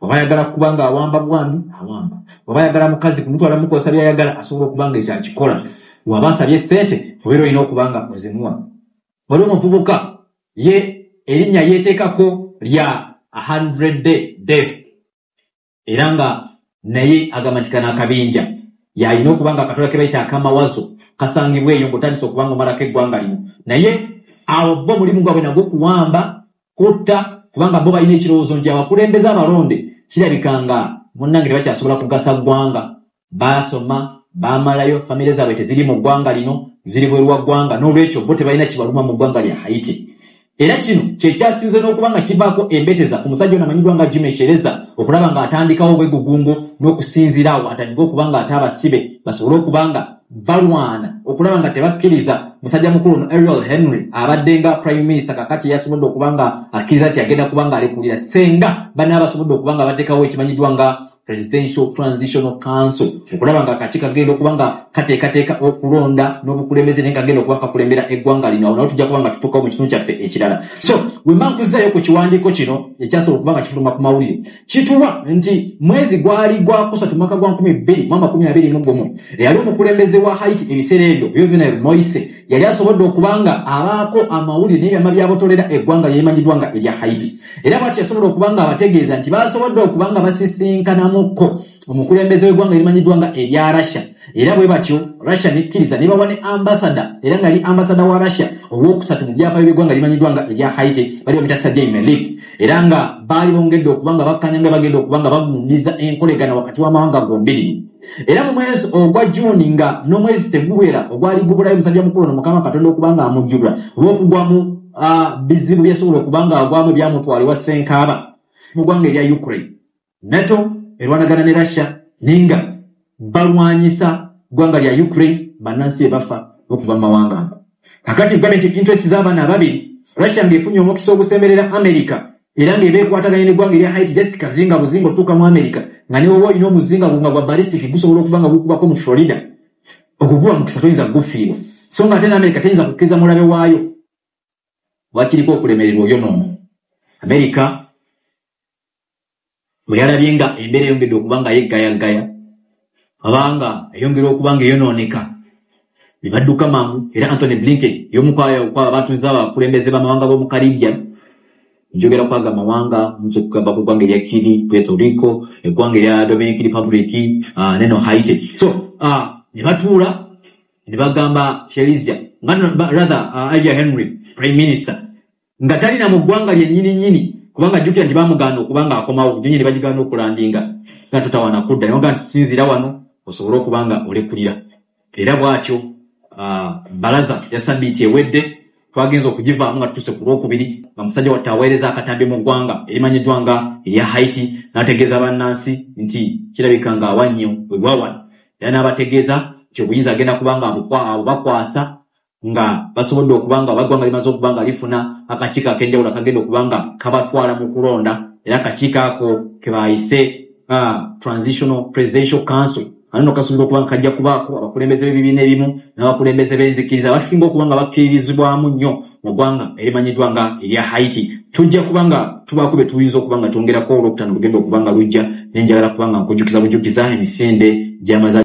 oba ayagala kuba nga awamba bwami awamba oba ayagala mukazi kumutwala mukosa byayagala asobola okuba nga ekyo akikola waba asabye sente obeera olina okuba nga ozimuwa wali omuvubuka ye erinnya yeeteekako lya hundred day death era nga naye agamba nti kana akabinja yalina okuba nga akatola ke bayita akamawazo kasangibwa eyo ngaotandisa okuba nga omalako eggwanga lino naye awo bo omulimu gwabwe nagwo okuwamba kutta kubanga bo balina ekirowoozo nti abakulembeze abalonde kirabika nga munnange tebakyasobola kugasa ggwanga baasoma baamalayo famire zaabwe teziri mu ggwanga lino ziri bweru wa ggwanga n'olwekyo bo tebalina kibaluma mu ggwanga lya haiti era kino kyekyasinze n'okuba nga kivaako embeteza ku musajja ono amanyiddwa nga jima ekyereza okulaba ng'atandikawo obwegugungo n'okusinziira awo atandika okuba ng'ate abasibe basobole okuba nga balwana okulaba nga tebakkiriza musajja mukulu ono ariel henry abadde nga prime minister kakati yasobodde okuba nga akkiriza nti agenda kuba nga alekulira senga bana abasobodde okuba nga batekawo ekimanyiddwa nga presidential transitional council okulaba nga kaki kagenda okuba nga kateekateeka okulonda n'obukulembeze naye kagenda okuba kakulembera eggwanga lino awo nawo tujja kuba nga tutuukawo mu kitundu kyaffe ekirala so wemankuzayo ku kiwandiiko kino ekyasobola okuba nga kifuluma ku mawulire kituwa nti mwezi gwali gwakusatu mwaka gwa 221 eyali omukulembeze wa haiti ebiseera ebyo juvenal moise yali asobodde okuba nga abaako amawulire n'ebyama byabotolera eggwanga lyemanyidwa nga erya haiti era bwati yasobola okuba nga abategeeza nti basobodde okuba nga basisinkanamuko omukulembeze w'eggwanga erimanyiddwa nga erya russia era bwe batyo russia nekkiriza ne bawa ne ambasada era nga yali ambasada wa russia ow'okusatu mu byafaayo by'eggwanga erimanyiddwa nga erya haiti bali bamita sajai melik era nga baali bongedde okuba nga bakkanya nga bagenda okuba nga bagundiza enkolegana wakati w'amawanga gombiri era mu mwezi ogwa juuni nga n'omwezi teguwera ogwali gubulayo omusajja mukulu no mukama katonda okuba nga amujjulwa olw'okugwamu ah, bizibu byasobola okuba nga agwamu ebyamutwala ewa senkaaba mu ggwanga erya ukraine nato erwanagana ne russia naye nga balwanyisa ggwanga lya ukraine bannansi ebafa okuva mu mawanga ago kakati gavumenti interest z'abaana ababiri russia ng'efunye omukisa ogusemberera america era ng'eba ekwataganye n'eggwanga erya haiti just kazinga buzinga otuuka mu america nga newoba olina omuzinga gwo nga gwa balistic gusobola okuba nga gukubako mu florida okuguwa mukisa toyinza kugufiirwa so nga ate ne america teyinza kukkiriza mulabe waayo wakiriko okulemererwa oyo noomu amerika bwe yalabye nga embeera eyongedde okuba nga yeggayagaya abanga eyongera okuba nga eyonooneka ne badduka mangu era antony blinken yomukwayakwa abantu nza abakulembeze bamawanga b'omu karibia njogera kwaga amawanga nze okugamba ku ggwanga erya kiri puerto rico eggwanga erya dominic republic ah, neno haiti so ah, ne batuula ne bagamba shelisia nga rather uh, alia henry prime minister nga talina mu ggwanga lyennyini nnyini kubanga jjukira nti bamugaana okuba nga akomawo nyonyi ne bagigaana okulandinga nga totawana kudda naga nti sinzira wano osobole okuba nga olekulira era bw'atyo uh, balaza ya sabiiti ewedde twagenze okugivaamu nga tutuuse ku lwokubiri nga musajja watta aweereza akatambi mu ggwanga erimanyiddwa nga erya haiti n'ategeeza bannansi nti kirabika nga awa nnyo wewawano era n'abategeeza nti obuyinza agenda kubanga abubakwasa nga basobodde okuba nga abaggwanga limaze okuba nga lifuna akakiiko ak'enjawulo akagenda okuba nga kabatwala mu kulonda era akakiiko ako ke baayise ah, transitional presidential council Kano kasunga okuba kajja kubaako abakulembeze b'ebibiina ebimu n'abakulembeze b'enzikiriza abasinga okuba nga bakkirizibwamu nnyo mu ggwanga erimanyiddwa nga erya Haiti. Tujja kuba nga tubaako bye tuyinza okuba nga twongerako olwokutaano lugenda okuba nga lujja ne njagala kuba nga nkujjukiza bujjukiza emisinde gy'amaza